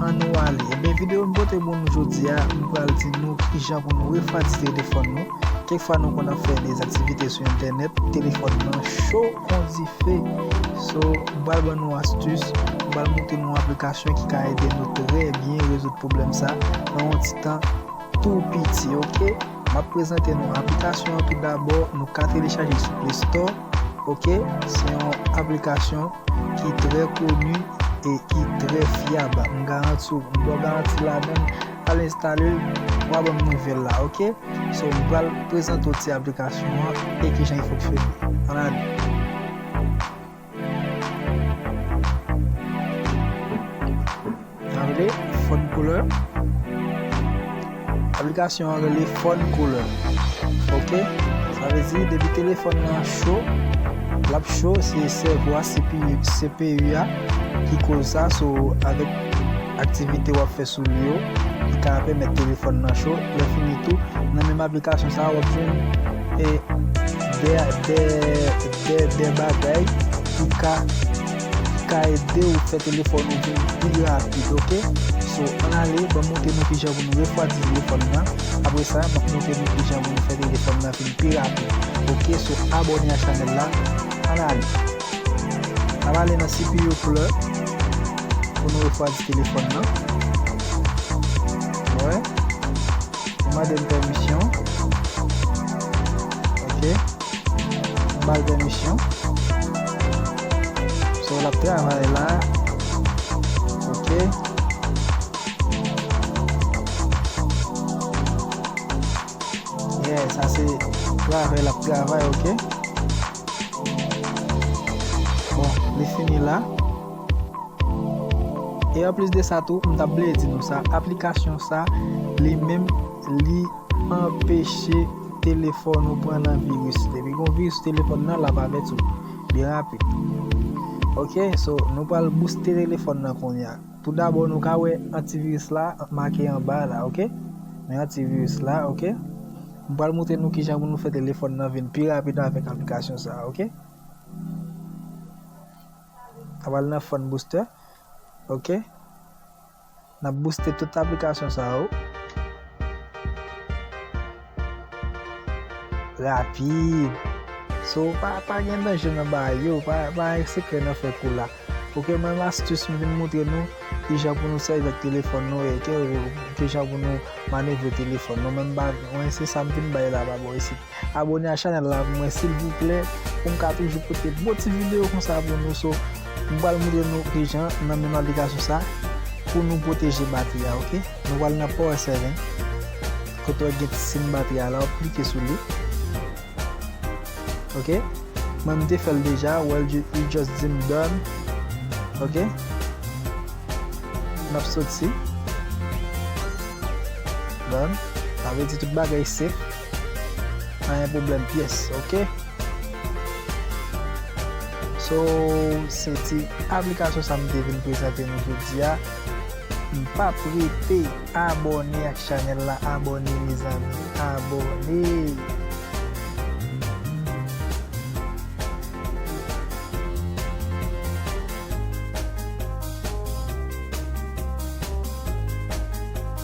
An nou ale. Ebyen video m pote pou nou jodia m pral di nou kijan pou nou refwadi telefòn nou. Kèk fwa nou konn ap fè des aktivite sou entènèt, telefòn nan cho kon dife. So m pral ban nou astus, m pral montre nou aplikasyon ki ka ede nou trè byen rezoud pwoblèm sa nan yon ti tan tou piti ok. Map prezante nou aplikasyon an tout dabò nou ka telechaje sou play store. Ok se yon aplikasyon ki trè koni e ki trè fyab m garanti w m baw garanti la menm al enstale l wa banm nouvèl la ok so m pral prezante w ti aplikasyon an e kijan li fonksyone an ale. Nan rele fòn koulè. Aplikasyon an rele fòn koulè. Ok. Sa vle di depi telefòn nan cho, lap cho se sèvo a CPU a ki koz sa so avèk aktivite wap fè sou li yo ki ka pèmèt telefòn nan cho. Lè fini tou nan menm aplikasyon sa wap jwenn e 2 bagay ki ka ka ede ou fè telefòn ou vin pi rapid ok so ann ale banm montre nou kijan pou nou refwadi telefòn nan apre sa map montre nou kijan pou nou fè telefòn nan vin pi rapid ok so abòne a chanèl la ann ale nap ale nan cpu plug pou nou refwadi telefòn nan nou wè li mandem pèmisyon ok. Bal bèl misyon. Sou lap travay la. Ok. Yeah, sa se travay lap travay ok. Bon, li fini la. E anplis de sa tou, m tap bliye di nou sa, aplikasyon sa li menm li Anpeche telefòn ou pran nan viris. Depi gon viris sou telefòn nan lap avèti w byen rapid. Ok so nou pral bouste telefòn nan kounya. Tou dabò nou ka wè antiviris la make anba la ok. Men antiviris la ok. M pral moutre nou kijan pou nou fè telefòn nan vin pi rapid avèk aplikasyon sa ok. Nap al nan phone booster ok. N ap bouste tout aplikasyon sa yo. Rapid. So pa gen danje nan bagay yo. Pa gen sekrè nan fè kou la. Ok menm astus m vin moutre nou kijan pou nou sèvi ak telefòn nou e kijan pou nou manevre telefòn nou. Menm bagay mwen se sa m vin bay la pa bò isit. Abone a chanel la pou mwen silvouplè pou m ka toujou pote bon ti video konsa pou nou so m pral moutre nou kijan nan menm aplikasyon sa pou nou pwoteje batri a ok nou pral nan power seven kote wap gen ti sin batri a la wap klike sou li ok mwen m te fèl deja wè l li just dim done ok nap soti done sa vle di tout bagay safe. Pa gen pwoblèm pyès ok. So se ti aplikasyon sa m te vin prezante nou jodi a. M pap rete abòne ak chanèl la abòne mezanmi abòne.